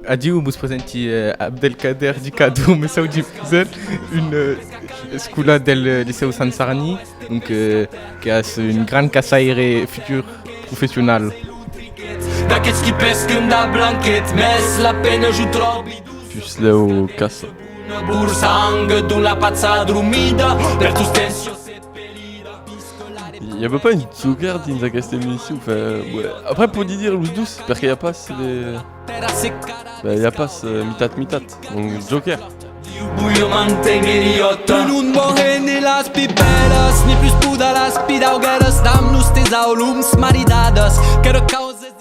Adiu, vos presenti Abdelkader Dikadou, Messau Difusèl, un escolar del Licèu Sant Sarni, donc qu'es un grand caçaire futur professional. Puslèu caça. Una bursang d'un la patsa adrumida per tus tensions Y'a pas une tsugar dins aquesta emission, enfin, ouais. Après, podi dire los douce, parce qu'il y a pas les... Bah, il y a pas euh, mitat mitat, donc Joker. Buio mantengueriota Tu non mohe ni las piperas Ni plus puda las pidaugueras Dam-nos tes aulums maridades Que recauses